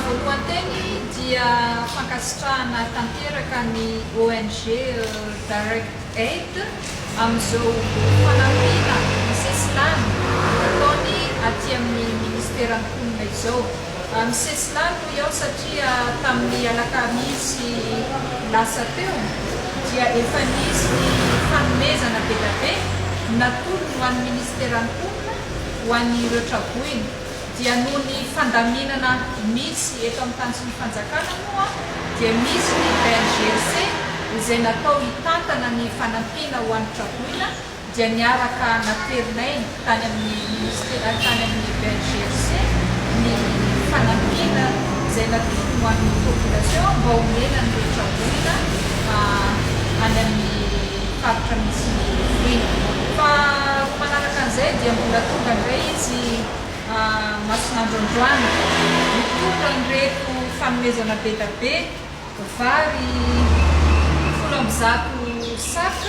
Voalohanteny dia fankasitrahana tanteraka ny ONG Direct Aid amin'izao fanampiana misesilany ataony aty amin'ny Ministeran'ny Mponina izao. Misesilany hoy aho satria tamin'ny alakamisy lasa teo dia efa nisy ny fanomezana be dia be natolony ho an'ny Ministeran'ny Mponina. ho an'ireo traboina dia noho ny fandaminana misy eto amin'ny tany sy ny fanjakana moa dia misy ny BNGRC izay natao hitantana ny fanampiana ho an'ny traboina dia niaraka naterinay tany amin'ny minisitera tany amin'ny BNGRC ny fanampiana izay natokony ho an'ny population mba homena an'ireo traboina any amin'ny ny faritra misy ny feno. Fa roa manaraka an'izay dia mbola tonga indray izy masin'andro androany. Nitondra an'ireto fanomezana bedabe, vary folo amby zato sac,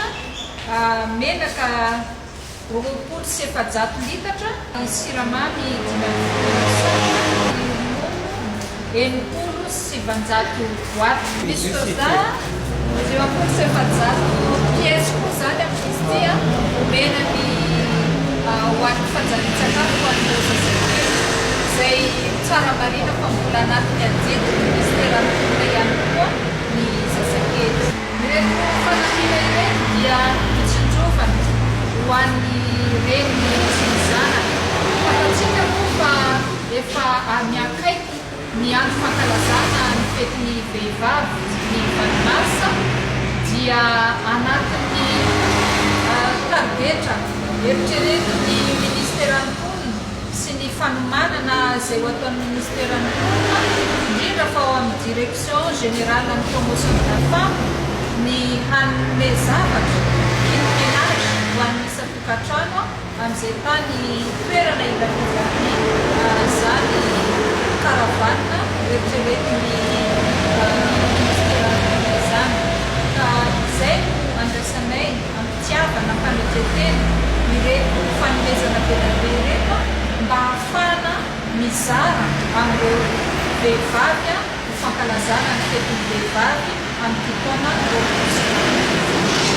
menaka. Roapolo sy efajato litatra ny siramamy dimy amby folo lasatra ny ronono enimpolo sy sivanjato boite ny soja dimampolo sy efajato pièces koa izany amin'izy ity a omena ny ho an'ny fanjarian-tsakafo ho an'ireo zazakely izay tsara marina fa mbola anatin'ny adidy ny ministeran'ny mponina ihany koa ny zazakely. Ireo fanampiana ireny dia notsinjovana ho an'ny reniny sy ny zanany. Fantatsika moa fa efa miha-akaiky ny andro fankalazana ny fetin'ny vehivavy ny valo marsa dia anatin'ny karidetra eritreretin'ny ministeran'ny mponina, sy ny fanomanana izay ho ataon'ny Ministeran'ny Mponina, indrindra fa ao amin'ny Direction Générale ny Promotion de la Femme, ny hanome zavatra, kit ménage, ho an'ny isan-tokantrano amin'izay tany toerana ilaviraviany izany caravane eritreretin'ny Ministeran'ny Mponina izany. Ka izay no andrasanay. fitiavana fanetren-tena ireto fanomezana be dia be ireto mba hahafahana mizara amin'ireo vehivavy ho fankalazana ny fetin'ny vehivavy amin'ity taona roapolo sy roa arivo ity.